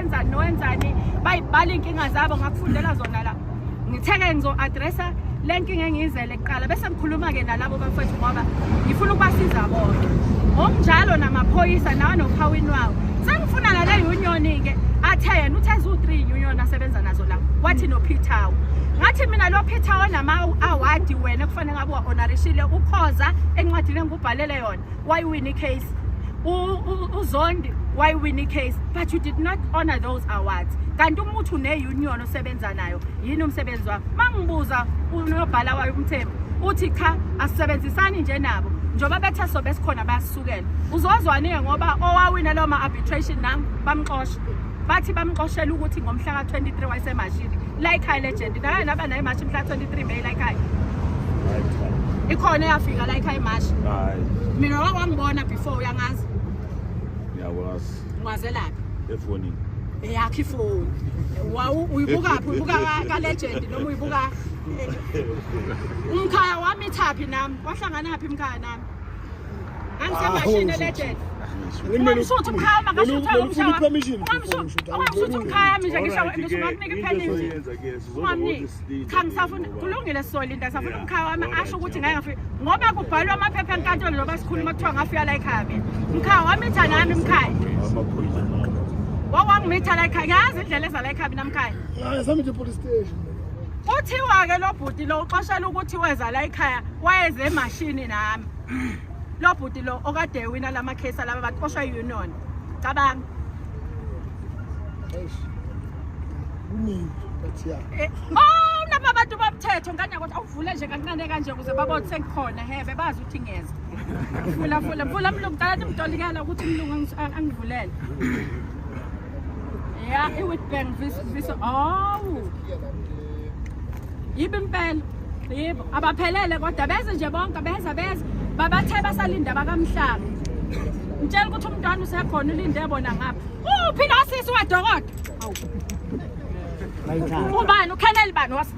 enzani nowenzani bayibhala iy'nkinga zabo ngakufundela zona la ngitheke ngizo-adressa le nkinga engiyizele kuqala bese ngikhuluma-ke nalabo bafethu ngoba ngifuna ukubasiza bonke ngokunjalo namaphoyisa nawa nophawini wawo sengifuna nale union-ke athe yena uthe ziwu-three union asebenza nazo la wathi nophithawo ngathi mina lo phithawo nama-awadi wena kufanele ngabe wa-onarishile ukhoza encwadini engikubhalele yona wayiwina icase uzondi wayiwina icase but you did not honor those awards kanti uma uthi une-union osebenza nayo yini umsebenzi wakho uma ngibuza unobhala wayo umthembu uthi cha asisebenzisani nje nabo njengoba bethe sobe sikhona bayasukela uzozwane ngoba owawina lawo ma-arbitration nam bamxosha bathi bamxoshela ukuthi ngomhla ka-23 wayesemashini layikhaya legend naye naba naye mashi mhla 23 may layikhaya ikhona eyafika layikhaya imashi mina wakwangibona before uyangazi ngiyakwazi ngwazelaphi efonini eyakho ifoni uyibukaphi uyibuka kalegend noma uyibuka umkhaya wami ithaphi nami wahlangana phi mkhaya nami Angisamashini legend. Ungamshutha umkhaya makashutha umshaya. Ungamshutha umkhaya manje ngisho ngisho ngakunika ipenalty. Ungamniki. Cha ngisafuna kulungile soli into asafuna umkhaya wami asho ukuthi ngeke ngafika ngoba kubhalwa amaphepha enkantolo loba sikhuluma kuthiwa ngafika la ekhaya mina. Mkhaya wami itha nami mkhaya. Wawangimitha la ekhaya. Ngiyazi indlela eza la ekhaya mina mkhaya. Hayi sami nje police station. Kuthiwa-ke lo bhuti lo uxoshela ukuthi weza la ekhaya wayeze emashini nami lo bhuti lo okade ewina la makhesi alaba bantu koshwa i-union cabanga kuningi but ya eh, oh naba abantu bomthetho ngane ukuthi awuvule nje kancane kanje ukuze babone sengikhona hebe bazi ukuthi ngiyeza fula fula fula mlungu qala nimdolikela ukuthi umlungu angivulele Yeah, it would be this this oh. Yibe impela. Yebo, abaphelele kodwa beze nje bonke beza beza. Babathe basalinda bakamhlanga. Ngitshela ukuthi umntwana usekhona ulinde bona ngapha. Uphi la sisi wadokodo? Awu. Ubani uKheneli bani was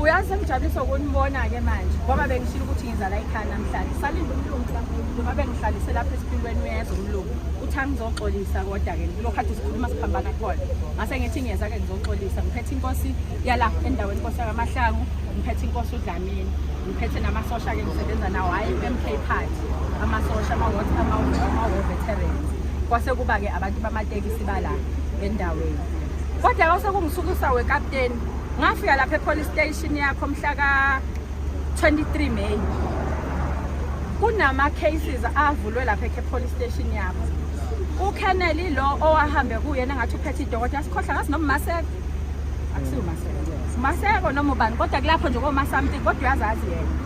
uyazi engijabulisa ukunibona-ke manje ngoba bengishilo ukuthi ngizala ikhaya namhlanje salinde umlungu ngoba bengihlalisele lapha esiphilweni uyeza umlungu uthi angizoxolisa kodwa-ke kulokhu khathi sikhuluma siphambana khona ngase ngithi ngiyeza-ke ngizoxolisa ngiphethe inkosi yala endaweni inkosi yakamahlangu ngiphethe inkosi udlamini ngiphethe namasosha-ke ngisebenza nawo hhayi i-mk party amasosha ama-veterans kwase kuba-ke abantu bamatekisi bala endaweni kodwa kwase kungisukisa wekapteni ngafika lapha epolice station yakho mhla ka-23 may kunama-cases avulwe lapha epolice station yakho ukeneli lo owahambe kuyena ngathi uphethe idokotela sikhohla ngathi nomaseko akusiwo umaseko umaseko noma ubani kodwa kulapho nje koma something kodwa uyazazi yena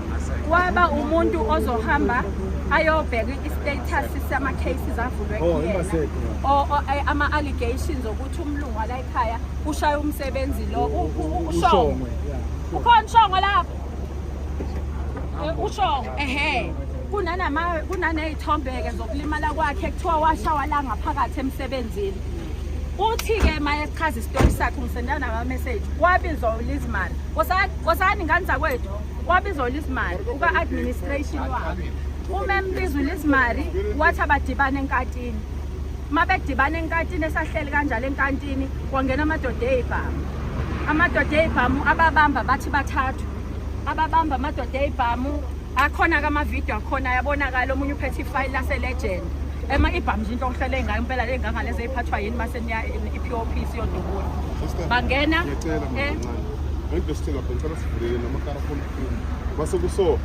kwaba umuntu ozohamba ayobheka i-status sama-cases avulwe oh, kuyena ama-allegations okuthi umlungu wala ekhaya ushaya umsebenzi lo ushongwe ukhona ushongwe lapho ushongwe ehe kunaney'thombe-ke zokulimala kwakhe kuthiwa washawa la ngaphakathi emsebenzini uthi-ke uma echaza isitori sakhe umsendela namameseji wabizwa ulizimali kosani ngane zakwethu wabizwa ulizimali uka-administration wabo uma embiza ulizimali wathi abadibane enkatini uma bedibane enkantini esahleli kanjalo enkantini kwangena amadoda eyibhamu amadoda eyibhamu ababamba bathi bathathu ababamba amadoda eyibhamu akhona ke amavidiyo akhona ayabonakala omunye uphethe ifayili laselegend ema ibhamu nje into ohlele ngayo impela le ngangale ezeyiphathwa yini mase niya i-pop siyodubula bangena eh. ngento sithenga phela ngicela sivulele namakara khona kukhulu base kuso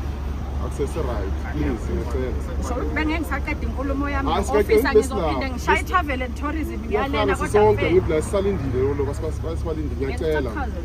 akusese right please ngicela so bengeke ngisaqeda inkulumo yami ofisa ngizophinde ngishaye i-travel and tourism ngiyalena kodwa sonke ngiblasisalindile lo lokho sibalindile ngiyacela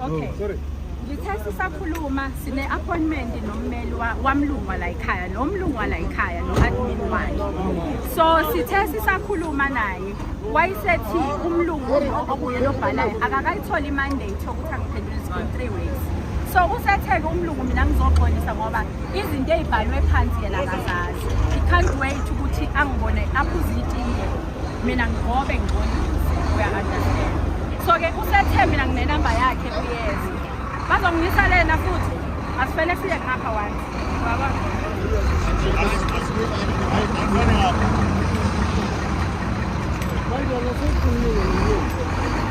Okay. Oh, sorry. ngithe sisakhuluma sine-appointment nommeli wamlungu walayikhaya nomlungu walayikhaya no-admin wakhe so sithe sisakhuluma naye wayesethi umlungu okuye lobhalayo akakayitholi imandate yokuthi angiphendule school three weeks so usetheke umlungu mina ngizoxolisa ngoba izinto ey'bhalwe phansi yena akazazi i can't wait ukuthi angibone aphuze itiye mina ngihobe ngigcolise uya-understand so-ke usethe mina nginenamba yakhe uyeza bazongisa lena futhi asifele siye ngapha one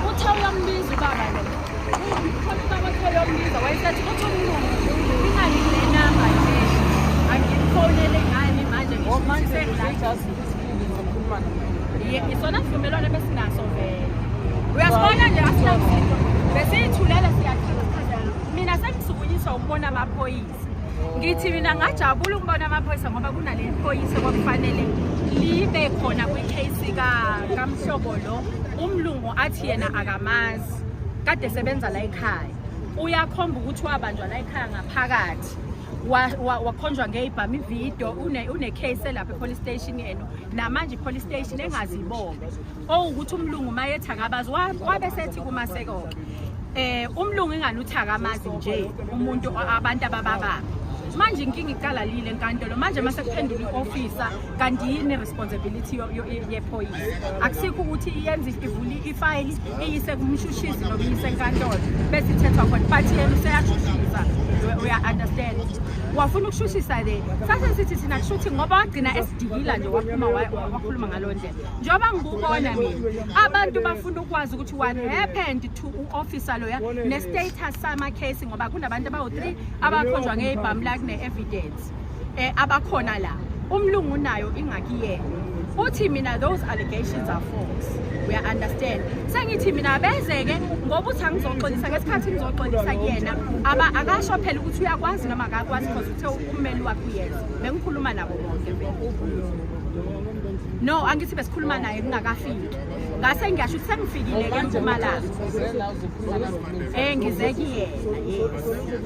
uthe uyambiza ubaba lo khona ubaba othe uyombiza wayesethi kuthi umlungu ingani nenamba nje angifonele ngani manje ngisho ukuthi sengilajazi isona sivumelwano besinaso vele uyasibona nje asinamsitho besiyithulele siyaqhazela mina sengisukunyiswa ukubona amaphoyisa ngithi mina ngajabula ukubona amaphoyisa ngoba kunale phoyisa kwakufanele libe khona kwikheyisi kamhlobo lo umlungu athi yena akamazi kade sebenza la ekhaya uyakhomba ukuthi wabanjwa la ekhaya ngaphakathi wakhonjwa ngeyibhami ividiyo une-case elapha police station yenu namanje police station engazibonge owukuthi umlungu mayethakabazi wabe sethi kumasekoke eh umlungu ingani uthakamazi nje umuntu abantu abababa manje inkinga iqalalile enkantolo manje mase kuphendula i-officer kanti yini responsibility yephoyisa akusikho ukuthi iyenza ivuli ifayili iyise kumshushisi noma iyise enkantolo bese ithethwa khona but yena useyashushisa uya-understand wafuna ukushushisa le sase sithi thina kushuthi ngoba wagcina esidikila nje waphuma wakhuluma ngalo ndlela njengoba ngikubona mina abantu bafuna ukwazi ukuthi what happened to u-officer loya ne-status sama-case ngoba kunabantu abawu-three abakhonjwa ngeyibhamu lakune-evidence Yes. Eh abakhona la. Umlungu nayo ingaki yena. Uthi mina those allegations are false. We understand. Sengithi mina bezeke ngoba uthi angizoxolisa ngesikhathi ngizoxolisa kuyena. Aba akasho phela ukuthi uyakwazi noma akakwazi because uthe ummeli wakhe uyena. Bengikhuluma nabo bonke. no angithi besikhuluma naye kungakafiki ngase ngiyasho ukuthi sengifikile ke mpumalanga um eh, ngizekiyena yes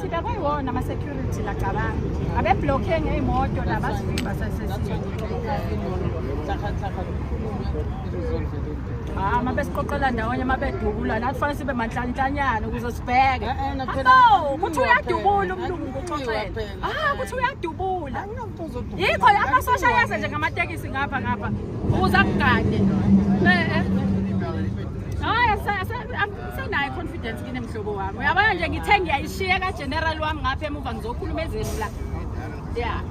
sida kwayiwona ama-security lacabanga abebhlokhe ngey'moto la basivimba Ah, uma besiqoqela ndawonye uma bedubula nathi fanele sibe manhlanhlanyana ukuze sibheke abo kuthi uyadubula umlungu kuxoxela ah kuthi uyadubula yikho la amasosha ayaze nje ngamatekisi ngapha ngapha ukuze akugade Sinayo confidence kine mhlobo wami. Uyabona nje ngithe ngiyayishiya ka general wami ngapha emuva ngizokhuluma ezeni la. Yeah.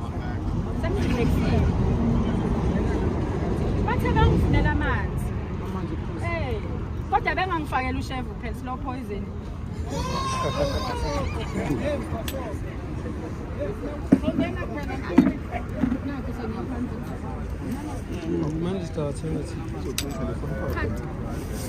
Sengizilekile. Bathe bangifunela amanzi. Amanzi phuza. Eh. Kodwa bengangifakela ushevu phela slow poison. Manje sithathe ngathi.